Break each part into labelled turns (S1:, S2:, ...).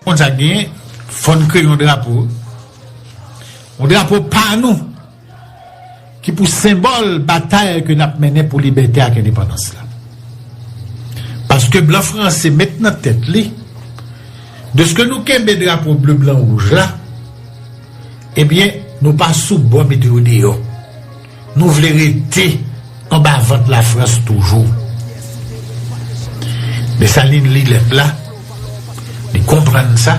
S1: Konn sa k genyen, fò n kreye yon drapo, yon drapo pa nou, ki pou senbòl batay ke n ap mennen pou libète ak endepandans la. Paske blan franse met nan tèt li, dèske nou kenbe drapo ble blan wouj la, ebyen nou pa sou bò mete yo deyò. Nou vle rete anba vant lafrans toujou. Desalin li lèt la, li konprann sa,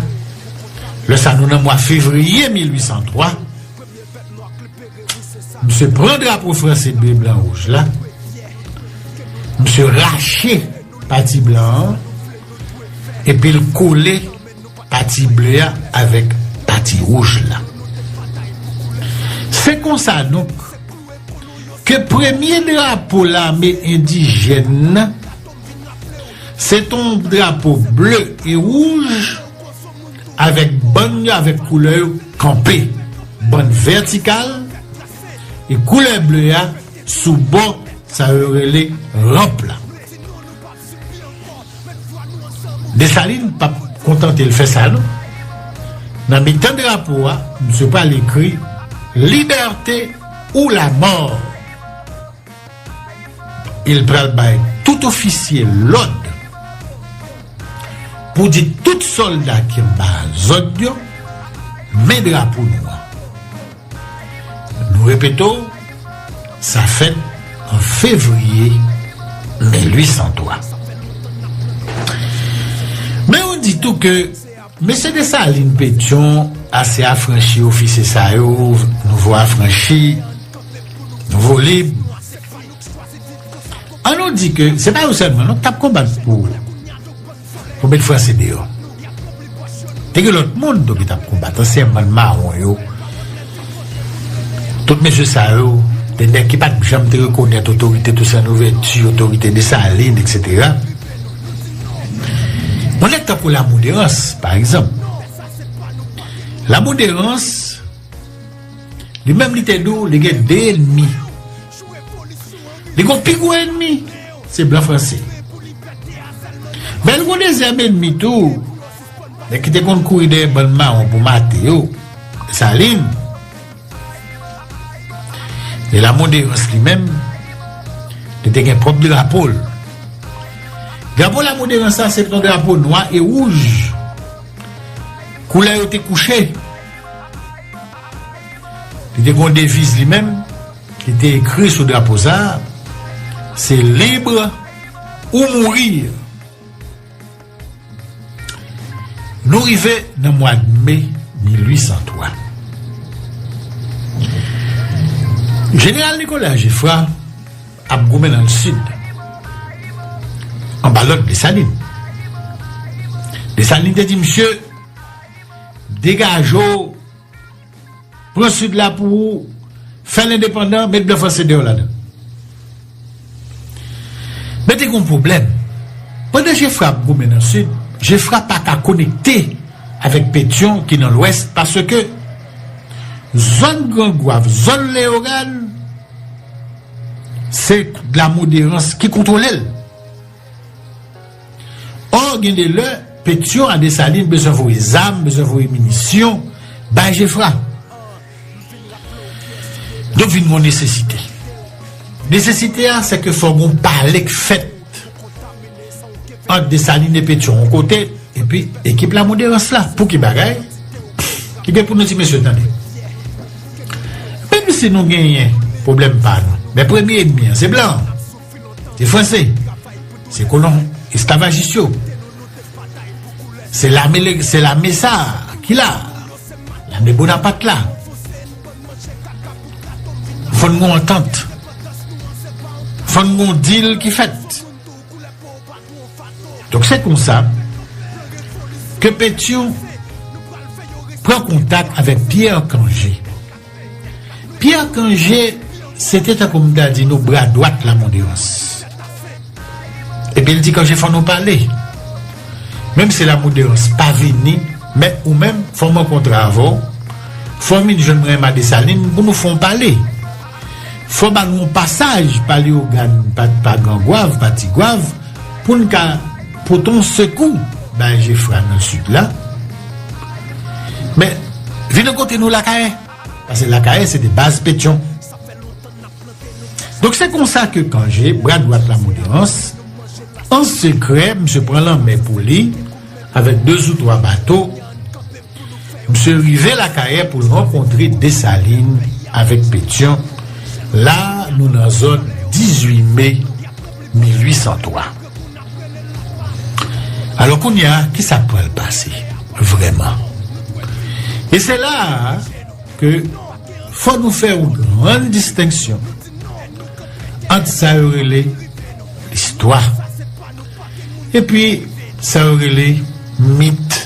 S1: lè sa nou nan mwa fevriye 1803, misye pran drapo franse ble blan wouj la, misye rache pati blan an, epi l kole. Pati ble a avèk pati wouj la. Se konsa donk, ke premye drapo lame endijèn nan, se t on drapo ble e wouj, avèk bann yo avèk koulè yo kanpe, bann vètikal, e koulè ble a sou bò sa yo rele ranp la. Dessalines pap kontante l fè sa non. Nan mitan drapo a, misye pral ekri Liberté ou la mort! E l pral bay tout ofisye lòd pou di tout sòlda ki anba zòd yo, Men drapo nou an! Nou repete w, sa fèt an fevriye 1803. Men yo di tou ke mesye Desalin, Petyon, ase afranchi ofisye sa yo, nouvo afranchi, nouvo lib. An nou di ke se pa yo sèlman non ki t ap konbat pou pou met franse deyò. Te gen lòt moun tou ki t ap konbat, ansyen bann mawon yo. Tout mesye sa yo te nèg ki pat janm te rekonèt otorite Tousen Louvèti, otorite Desalin eksetera. Yon nèg tankou Lamou Derans pa egzanp. Lamou Derans li menm li te di w li gen 2 enmi. Li gon pi gwo enmi, se blan franse. Men li gon dezyèm enmi tou, nèg ki te konn kouri dèyè bann mawon pou mate yo, Desalin. E Lamoderans li menm, li te gen pwòp drapo l. Drapo Lamoderans la se te yon drapo nwa e wouj. Koulè yo te kouche. Li te gon deviz li menm. Li te ekri sou drapo sa a, Se libre ou mourir. Nou rive nan mwad me 1803. Jeneral Nicolas Geffrard ap goumen nan Sid, anba lòd Desalin. Desalin te di misye, Degaje w! Pran sud la pou ou fèl endepandan met blan franse deyò ladann. Men te gen yon pwoblèm, pandan Jefra ap goumen nan sud, Jefra pa ka konekte avèk Petyon ki nan lwès paske zòn Gran Gwav, zòn Leogàn se Lamoderans ki kontwole l. Or gen de lè Petion a Dessalines bezwen voye zam, bezwen voye minisyon bay Geffrard. Donk vin gon nesesite. Nesesite a se ke fò gon pale k fèt ant Dessalines e Petion yon kote epi ekip Lamouderans la. Pou ki bagay? Li gen pou nou di mesye tande. Menm si nou genyen pwoblèm pa nou. Men premye enmi an se blan. Se franse, se kolon esklavajis yo, se lame sa ki la, lame Bonapat la. Fòn gou antant, fòn gou dil ki fèt. Donk se kon sa, ke Petion pran kontak avèk Pierre Cangé. Pierre Cangé se te tankou m ta di nou bra dwat Lamoudérans. Epi l di Cangé fò nou pale. Menm si Lamoudérans pa vini, men ou menm fò m rankontre avè w, fò w vin jwenn mwen Emma Dessalines pou nou fè yon pale. Fò w ba nou yon pasaj pa Léogâne, pa Gran Gwav, pa Ti Gwav pou n ka pote yon sekou bay Geffrard nan Sid la. Men, vin an kote nou Lakayè. Pase Lakayè se te baz Petyon. Donk se konsa ke Kanje, bra dwat Lamoderans, an sekrè misye pran lanmè pou li avèk 2 zou 3 bato, misye rive Lakayè pou l rankontre Desalin avèk Petyon, la nou nan zòn 18 me 1803. Alò kounye a, ki sa k pral pase vrèman? E se la a ke fò nou fè yon grann distenksyon ant sa yo rele listwa epi sa yo rele mit,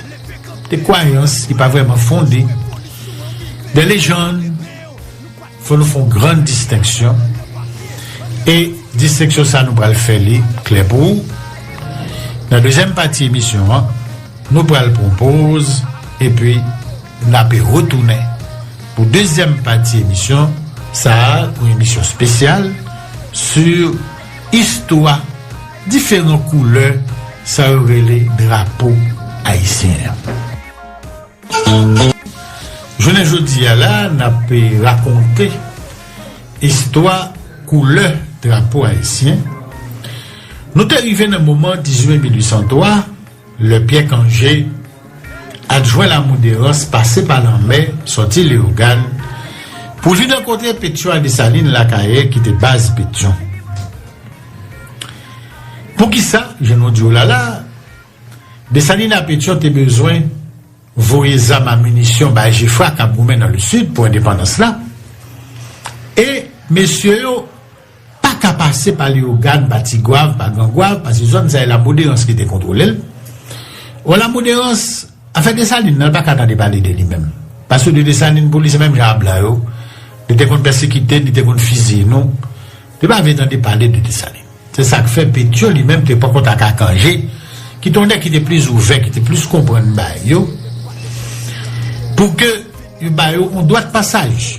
S1: de kwayans ki pa vrèman fonde, de lejann. Fò nou fon gran distenksyon e distenksyon sa nou pral fè li klè pou ou nan dezyèm pati emisyon an nou pral pran poz epi nape retounen pou dezyèm pati emisyon sa yon emisyon spesyal su istwa diferan koulè sa yo rele drapo ayisyen an. Jounen jodi a la n ap rakonte istwa koulè drapo ayisyen. Nou te rive nan moman 18 me 1803, lè Pyè Kanje, adjwen Lamoderans pase pa lanmè sòti Leyogàn pou li rankontre Petyon a Desalin Lakayè ki te baz Petyon. Poukisa, jan nou di w la la, Desalin a Petyon te bezwen voye zam a minisyon bay Jefra kap goumen nan le Sid pou endepandans la, e mesye yo pa ka pase pa Leyogàn, pa Tigwav, pa Grangwav, pase zòn sa e Lamoderans ki te kontwole l. Bon Lamoderans, afè Desalin nan l pa ka tande pale de li menm. Pase de Desalin pou li se menm jan a blan yo, li te konn pèsekite n, li te konn fiziye nou, li pa vle tande pale de Desalin. Se sa k fè Petyon li menm te poko ta ka kanje, ki te yon nèg ki te plis ouvè, ki te plis konprann bagay yo, pou ke yo ba yo yon dwa dpasaj.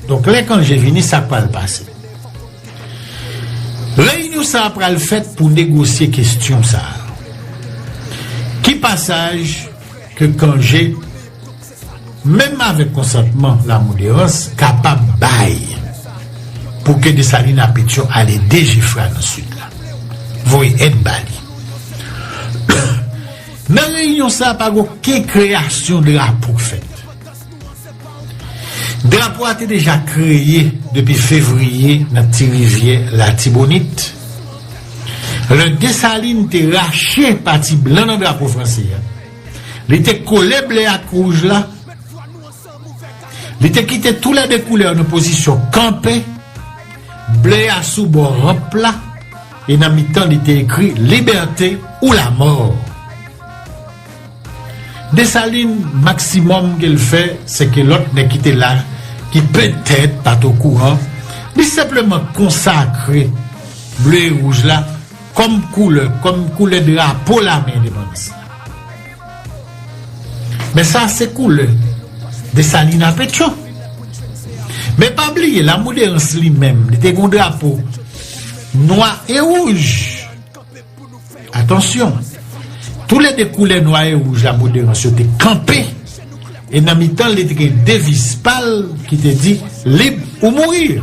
S1: Donk, lè kanje vini, sa k pral pase? Reyinyon sa a pral fèt pou negosye kestyon sa a. Ki pasaj ke kanje. Menm avèk konsantman Lamoderans kapab bay pou ke Desalin a Petyon al ede Jefra nan Sid la. Voye èd ba li. Nan reyinyon sa a pa gen oken kreyasyon drapo k fèt. Drapo a te deja kreye depi Fevriye nan Ti Rivyè Latibonit. Lè Desalin te rache pati blan nan drapo franse a. Li te kole ble ak wouj la. Li te kite tou lè de koulè yo nan pozisyon kanpe, ble a sou bò ranp la, e nan mitan li te ekri Libète ou lamò. Desalin, maksimòm ke l fè, se ke lòt nèg ki te la, ki petèt pa t okouran, li senpleman konsakre ble e wouj la, Kòm koulè, kòm koulè drapo lame endepandans la. Men sa se koulè Desalin a Petyon. Men pa bliye Lamouderans li menm, li te gen yon drapo nwa e wouj. Atansyon, tou le 2 koulè nwa e wouj Lamouderans yo te kanpe e nan mitan li te gen deviz pa l ki te di Lib ou mourir.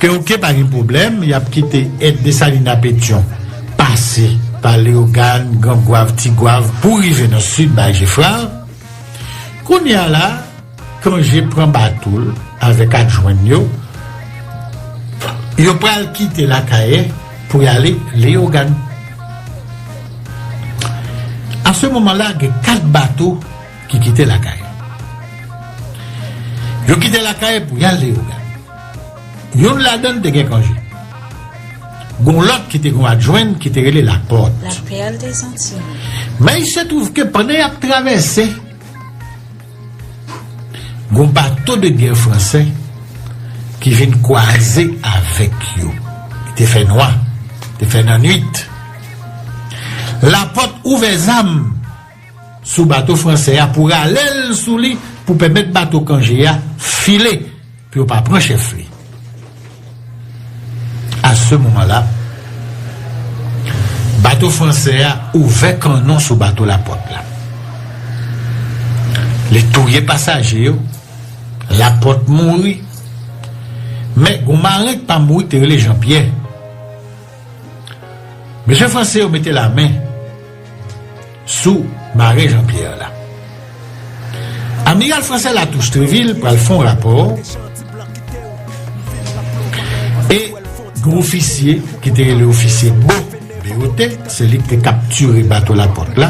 S1: Ke ok pa gen pwoblèm yap kite et Dessalines a Pétion pase pa Léogâne, Grand Goâve, Ti Goâve pou rive nan Sud bay Geffrard. Kounye a la Cangé pran bato l avèk adjwen yo, yo pral kite Lakaye pou yale Léogâne. A se moman la gen 4 bato. ki kite lakay yo. Yo kite lakay pou y al Leyogàn. Youn ladan l te gen kanje. Gon lòt ki te gon adjwen ki te rele Lapòt.
S2: Men il se
S1: twouv ke pandan y ap travèse, gon bato de gè franse ki vin kwaze avèk yo. Li te fè nwa, li te fè nannuit. Lapòt ouvè zam. sou bato fransè a pou rale l sou li pou pèmèt bato Cangé a file pou yo pa pran chèf li. A se moman la, bato fransè a ouvè kannon sou bato Laporte la. Li touye pasaje yo, Laporte mouri, men gon maren k pa mouri ki te rele Jean Pierre. Mesye franse yo mete lamen sou maren Jean Pierre la. Amiral franse Latouche Treville pral fon rapò e gwo ofisye ki te rele ofisye Bo BOT se li ki te kaptire bato la pot la.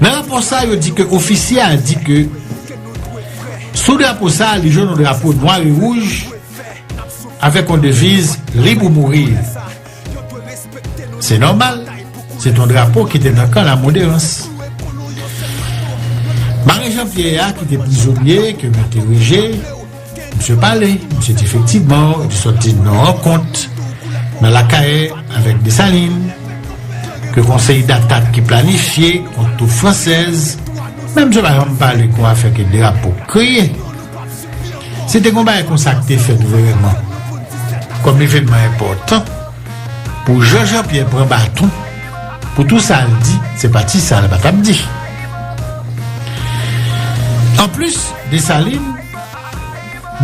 S1: Nan rapò sa yo di ke ofisye a di ke sou drapo sa li jwenn yon drapo nwa e wouj avèk yon deviz lib ou mouri. Se nòmal, se t yon drapo ki te nan kan Lamoderans. Mari Jan Pyè a ki te prizonye ke m entereje, msye pale, msye di efektivman li te sòti nan rankont nan Lakay avèk Desalin, ke konsèy datak ki planifye kont twoup fransèz, men msye pa janm pale kou afè ke drapo kreye. Se te kon bagay konsa k te fèt vrèman, kòm evènman enpòtan, pou Jan Jan Pyè pran baton, pou tou sa l di, se pa ti sa l pa t ap di. Anplis, Desalin,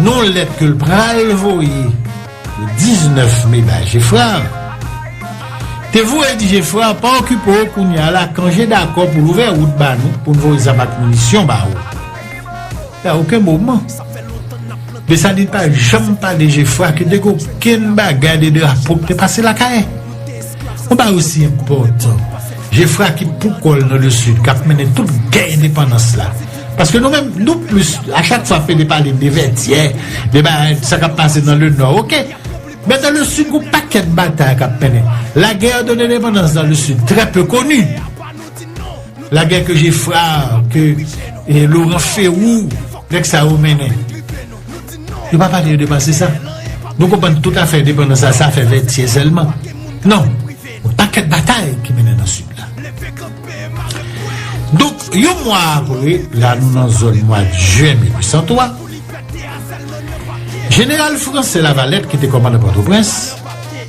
S1: non lèt ke l pral voye le 19 me bay Jefrard, te voye di Jefrard, pa okipe w kounye a, Lacan, je dakò pou l ouvè wout ba nou, pou n voye zam ak minisyon ba ou. A oken moman, Desalin pa janm pale je fwa ke te gen okenn bagay de drapo ki te pase lakay. Yon bagay osi enpòtan, je fwa ki pou kò l nan le Sid, k ap mennen tout gè endepandans la. Paske nou menm, nou plis, a chak fwa Pele pale de Vètyè, de bagay, sa k ap pase nan le Nò, oke. Men nan le Sid, gen yon pakèt batay k ap mennen. La guerre de l'indépendance dans le Sud, trè pe koni. Lagè ke Geffrard, ke Laurent Ferrou, nèg sa yo mennen. Yo pa pale de pase sa. Nou konprann tout afè endepandans la, sa fè Vètyè sèlman. Non. Yon pakèt batay ki mennen nan Sid la. Donk, yon mwa apre, la nou nan zòn mwad Jen 1803, Jeneral Franse Lavalette ki te kòmandan Pòtoprens,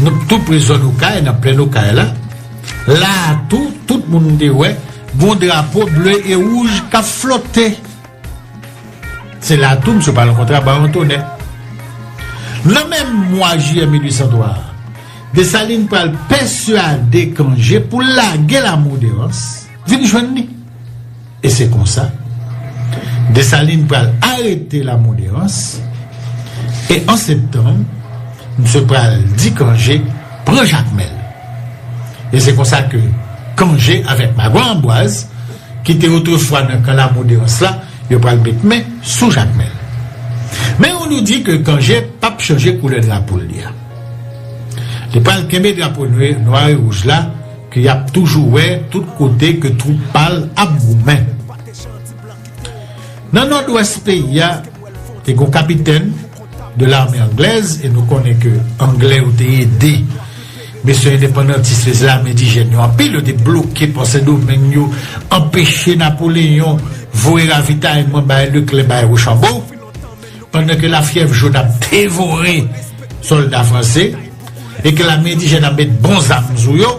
S1: Nou t tou pre zòn okay nan plèn okay la, la a tou tout moun te wè gon drapo ble e wouj kap flote se la tou msye pral rankontre ak Baron Tonè. Nan menm mwa jiyè 1803 a, Desalin pral pèsuade Kanje pou l lage Lamour Derance vin jwenn li. E se konsa, Desalin pral arete Lamoderans, e an septanm, misye pral di Kanje pran Jakmèl. E se konsa ke Kanje avèk Magwa Anbwaz, ki te otrefwa nan kan Lamoderans la, yo pral met men sou Jakmèl. Men yon nou di ke Kanje p ap chanje koulè drapo li a. Li pral kenbe drapo nwa e wouj la, Ke yap toujou wè tout kote ke twoup pa l ap goumen. Nan Nòdwès peyi a, te gon kapitèn de lame anglèz e nou konnen ke anglè yo te ede mesye endepandantis fè zlame endijèn yo anpil, yo te bloke pò Sendomeng yo, anpeche Napoleyon voye ravitayman bay Leklè, bay Wochanbo. Pandan ke lafyèv jòn ap devore sòlda franse e ke lame endijèn ap met bon zam sou yo,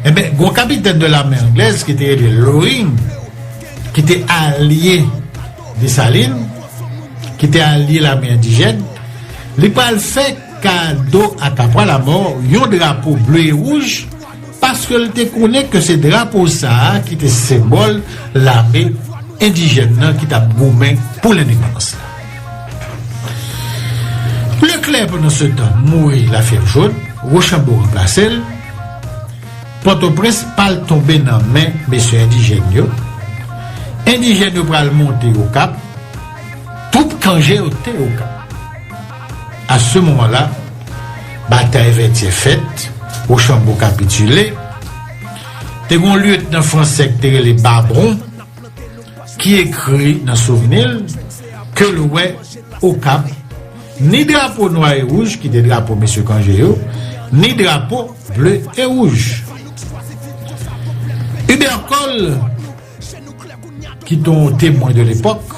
S1: enben, gon kapitèn de lame anglèz ki te rele Loring, ki te alye Desalin, ki te alye lame endijèn, li pral fè kado a Kapwa Lamò yon drapo ble e wouj, paske l te konnen ke se drapo sa a ki te senbòl lame endijèn nan ki t ap goumen pou lendepandans la. Leklè pandansetan mouri lafyèvjòn, Wochanbo ranplase l, Pòtoprens pral tonbe nan men mesye endijèn yo, endijèn yo pral monte Okap, twoup Kanje yo te Okap. A se moman la, batay Vètyè fèt, Wochanbo kapitile. Te gen yon lyetnan fransè ki te rele Babron ki ekri nan souvni l ke l wè Okap ni drapo nwa e wouj ki te drapo mesye Kanje yo, ni drapo ble e wouj. Ibercole. ki te yon Témoin de l'époque,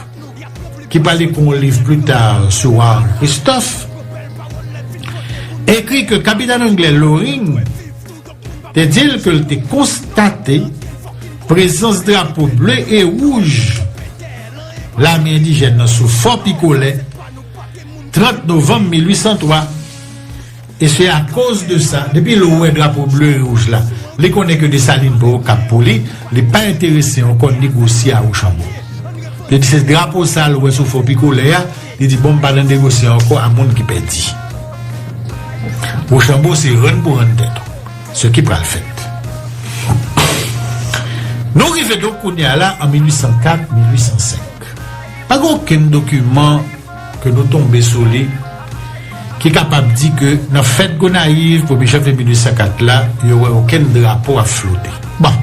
S1: ki pral ekri yon liv plus tard sou Warren Christophe, ekri ke Kapitan Anglè Loring te di l ke l te konstate prezans drapo ble e wouj lame endijèn nan sou Fò Picolet 30 novanm 1803. E se akoz de sa, depi l wè drapo ble e wouj la, li konnen ke Desalin pa Okap pou li, li pa enterese ankò ni Gwosye a Wochanbo. Li di se drapo sa a l wè sou fò pikolè a, li di bon m pa nan negosye ankò a moun ki pèdi. Wochanbo se rann pou rann tèt ou, se ki pral fèt. Nou rive donk kounye a la an 1804, 1805. Pa gen okenn dokiman. ke nou tonbe sou li, ki kapab di ke nan fèt Gonayiv premye janvye 1804 la, yo wè okenn drapo ap flote. Bon!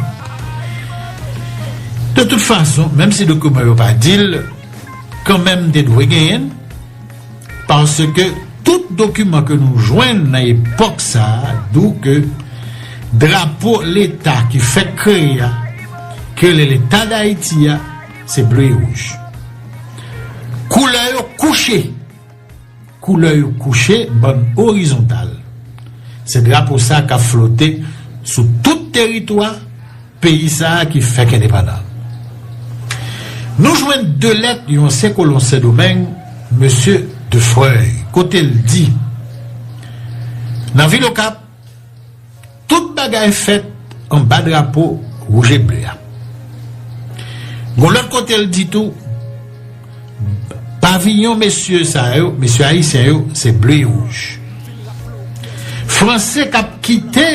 S1: De tout fason, menm si dokiman yo pa di l, kanmenm te dwe genyen l, paske tout dokiman ke nou jwenn nan epòk sa a dou ke drapo leta ki fèk kreye a, ki rele Leta Dayiti a, Se ble e wouj. Koulè yo kouche. Koulè yo kouche bann orizontal. Se drapo sa kap flote sou tout teritwa peyi sa ki fèk endepandan. Nou jwenn 2 lèt yon ansyen kolon Sendomeng, Mesye Defreuille, kote l di, Nan vil Okap, Tout bagay fèt anba drapo wouj e ble a. Gon lòt kote l di tou, Paviyon mesye sa yo, mesye ayisyen yo, se ble e wouj. Franse k ap kite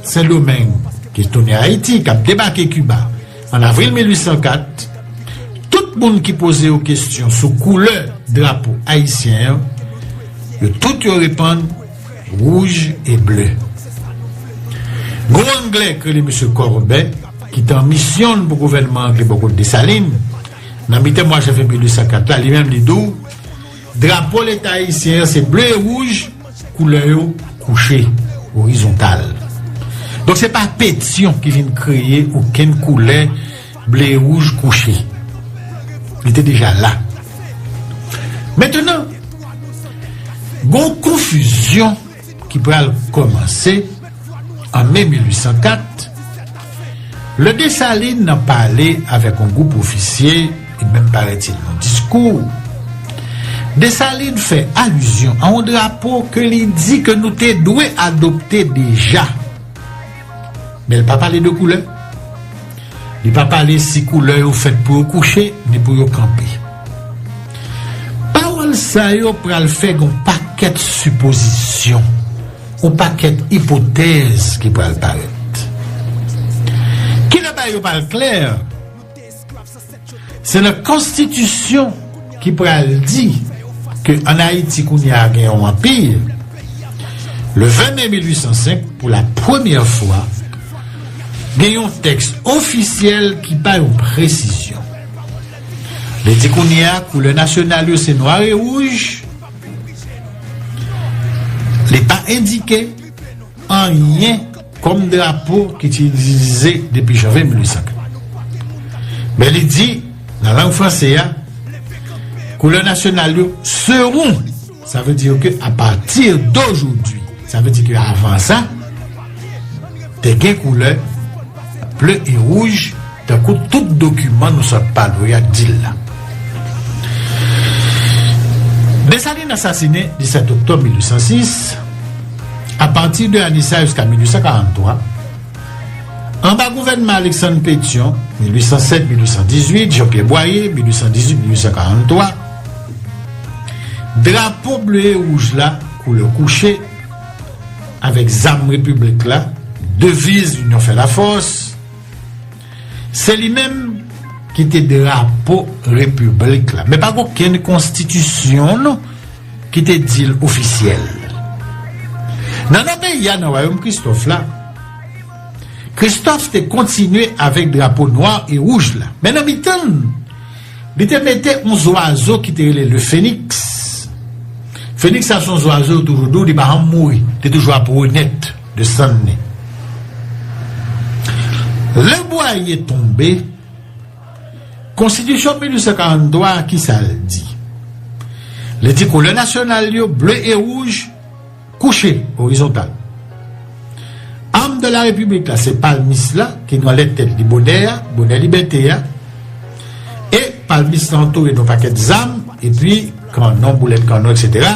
S1: Sendomeng, ki tounen Ayiti, k ap debake Kiba an avril 1804, tout moun ki poze yo kesyon sou koulè drapo ayisyen an, yo tout yo reponn Wouj e Ble. Gwo Angle k rele Mesye Kòrben, ki te an misyon l pou gouvènman Angle bò kot Desalin, nan mitan mwa janvye 1804 la, li menm li di w, Drapo Leta Ayisyen an se ble e wouj, koulè yo kouche, orizontal. Donk se pa Petyon ki vin kreye okenn koulè, Ble wouj kouche. Li te deja la. Mentenan, gen yon konfizyon ki pral kòmanse an me 1804, lè Desalin nan pale avèk yon gwoup ofisye, e menm parètil yon diskou. Desalin fè alizyon a yon drapo ke li di ke nou te dwe adopte deja. Men li pa pale de koulè. Li pa pale si koulè yo fèt pou yo kouche ni pou yo kanpe. Pawòl sa yo pral fè gen yon pakèt sipozisyon, yon pakèt ipotèz ki pral parèt. Kilè bagay yo pral klè? Se nan konstitisyon ki pral di ke an Ayiti kounye a gen yon anpi, le 20 me 1805, pou la premyè fwa, gen yon tèks ofisyèl ki bay yon presizyon. Li di kounye a koulè nasyonal yo se nwa e wouj, li pa endike anyen. kòm drapo ki te itilize depi janvye 1804. Men li di, nan lang franse a, koulè nasyonal yo serou, sa vle di ke a pati dojoudwi, sa vle di ke avan sa, te gen koulè ble e wouj, Tankou tout dokiman nou sot pale w ya t di l la. Desalin asasine 17 oktòb 1806, apati de ane sa jiska 1843, anba gouvènman Aleksann Petyon, 1807-1818, Janpyè Bwaye, 1818-1843, drapo ble e wouj la, koulè kouche, avèk zam repiblik la, deviz linyon fè lafòs, Se li menm ki te drapo repiblik la. Men pa gen okenn konstitisyon non ki te di l ofisyèl. Nan nò peyi a, nan wayom Kristòf la, Kristòf te kontinye avèk drapo nwa e wouj la. Men nan mitan l, li te mete yon zwazo ki te rele le feniks. Feniks sa se yon zwazo yo toujou di w li pa janm mouri, li toujou ap renèt. de sann ni. Lè Bwaye tonbe, Konstitisyon 1843 a ki sa l di? Li di koulè nasyonal yo, ble e wouj, kouche, orizontal. Am de la Repiblik la se palmis la ki nan lèt tèt li bonè a, bonè libète a, e palmis la antoure de yon pakèt zam, epi kanon, boulèt kanon, eksetera.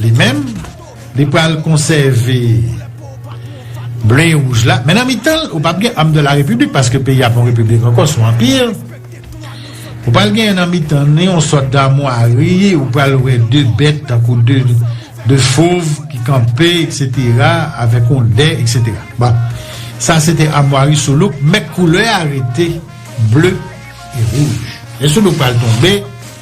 S1: Li menm, li pral konsève ble e wouj la, men nan mitan l, ou pap gen am de la repiblik, paske peyi a pa yon repiblik ankò, son anpir. Ou pral genyen nan mitan li yon sòt damwari, ou pral wè de bèt tankou de fov ki kanpe, eksetera, avèk yon dè, eksetera. Bon, sa se te amwari Soulouk, men koulè a rete ble e wouj. Lè Soulouk pral tonbe,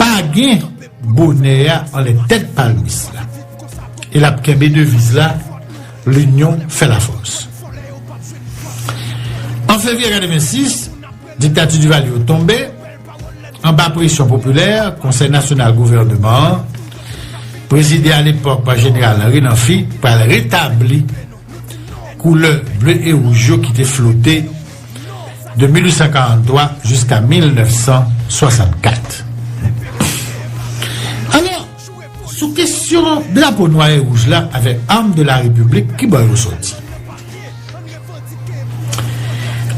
S1: Pa gen bonè a anlè tèt palmis la. E l ap kenbe deviz la, L'union fait la force. An fevriye 86, diktati Duvalier yo tonbe, anba presyon popilè, Konsèy Nasyonal Gouvèneman an, prezide alepòk pa Jeneral Henri Namphy, pral retabli koulè ble e wouj yo ki te flote, de 1843 jiska 1964. Alò, sou kesyon drapo nwa e wouj la avèk arme de la République ki bò yo soti?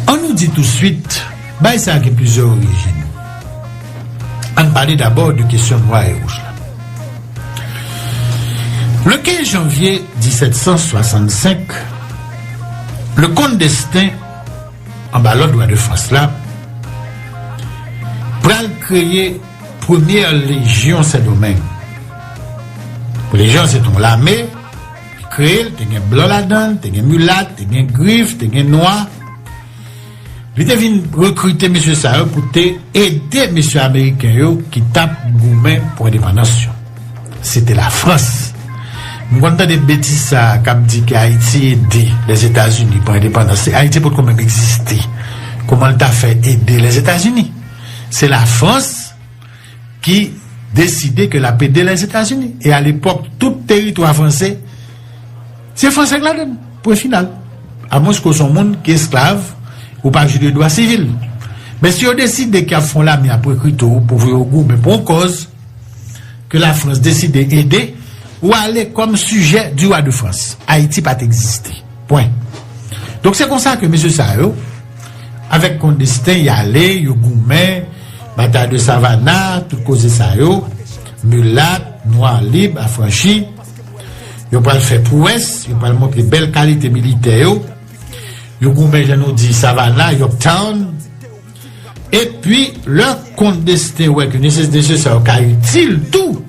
S1: An nou di touswit, bagay sa gen plizyè orijin. An n pale dabò de kesyon nwa e wouj la. Le 15 janvye 1765, Le Comte Destin, anba lòd Wa de Frans la, pral kreye premyè lejyon Sendomeng. Lejyon an se te yon lame, li kreye l, te gen blan ladan l, te gen milat, te gen grif, te gen nwa. Li te vin rekrite mesye sa yo pou te ede mesye ameriken yo ki t ap goumen pou endepandans yo. Se te Lafrans. M konn tande betiz sa a k ap di ke Ayiti ede Lèzetazini pran endepandans. Se Ayiti potko menm egziste. Kouman l ta fè ede Lèzetazini? Se Lafrans. ki deside ke lap ede Lèzetazini e a lepòk tout teritwa franse se franse k ladann pwen final a mwens ke w son moun ki esklav ou pa jwi de dwa sivil men si yo deside ke yap fè yon lame yap rekrite w pou voye w goumen pou yon kòz ke lafrans deside ede ou ale kòm sijè di wa de frans ayiti pat egziste pwen donk se konsa ke mesye sa yo. Avèk kon desten y ale, yo goumen, batay de Savana, tout koze sa yo, milat, nwa lib, afranchi. Yo pral fè pwès, yo pral montre bèl kalite militè yo. Yo goumen jan nou di Savana, Yorktown. Epi, lè kon desten wè ke nesesite sa yo ka itil tou,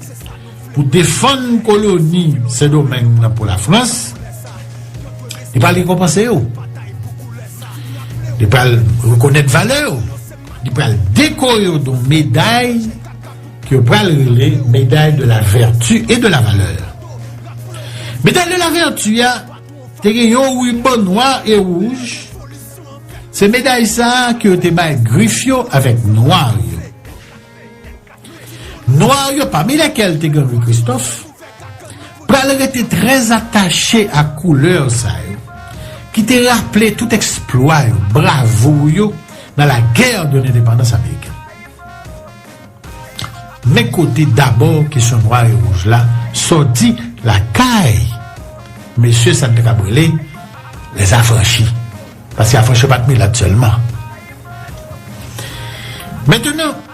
S1: pou defann koloni Sendomeng nan pou Lafrans, li pral rekonpanse yo. Li pral rekonèt valè yo. Li pral dekore yo don meday ki yo pral rele meday de la vertu et de la valeur. Meday de la vertu ya, te gen yon ruban nwa e rouj, se meday sa ki yo te bay grif yo avèk nwa yo. Nwa yo, pami lèkèl te gen Louis Christophe, pral rete trè atache ak koulè sa yo ki te raple tout eksplwa yo, bravo yo nan la guerre de l'indépendance américaine. Men kote dabò kesyon nwa e wouj la sòti lakay mesye sa n te kab rele les affranchis, paske affranchi yo pa t milat sèlman. Mentenan.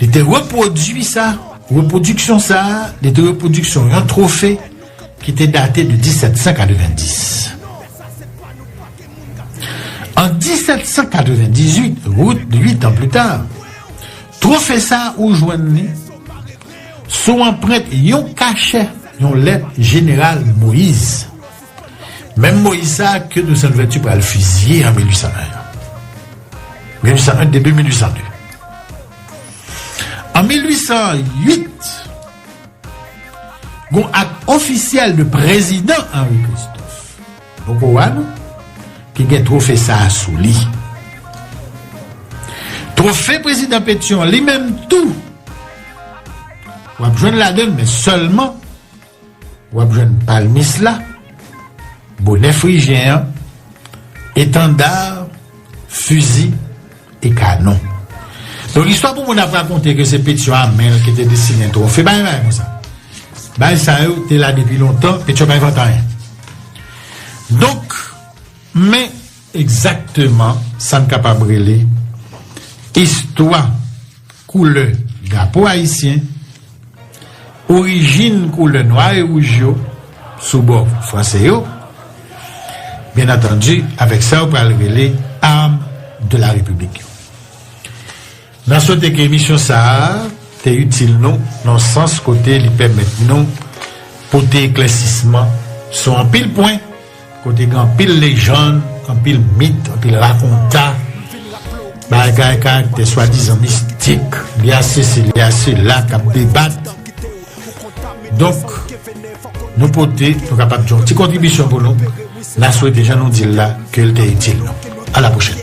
S1: Li te repwodui sa, repwodiksyon sa a, li te repwodiksyon yon twofe ki te date de 1790. An 1798, rout 8 an plita, twofe sa a ou jwenn li sou anprent yon kachè yon lèt Jeneral Moïse. Menm Moyiz sa a ke Toussaint Louverture pral fiziye an 1801 an. 1801 debut 1802. An 1808, gon ak ofisyèl de prezidan Henri Christophe, poko wè nou, ki gen twofe sa a sou li. Twofe prezidan Pétion an li menm tou, w ap jwenn ladan l men sèlman, Wap jwenn palmis la, bonè frijyen an, etanda, fizi e kanon. Donk istwa pou moun ap rakonte ke se Petyon Amèl ki te desinen twofe bay bay konsa. Bay sa yo te la depi lontan, Petyon pa envante anyen. Donk, men. Egzakteman sa n kapab rele istwa koulè drapo ayisyen, orijin koulè nwa e wouj yo sou bò franse yo, byen antandi avèk sa yo pral rele armes de la République yo. Na swete ke emisyon sa a te itil nou nan sans kote li pèmèt nou pote eklèsisman sou anpil pwen kote gen anpil lejann, anpil mit, anpil rakonta bagay karaktè swadizan mistik li a sesi li a sela k ap debat. Donk nou pote nou kapab di yon ti kontribisyon pou nou. Na swete jan nou di l la ke l te itil nou. A la pwochèn!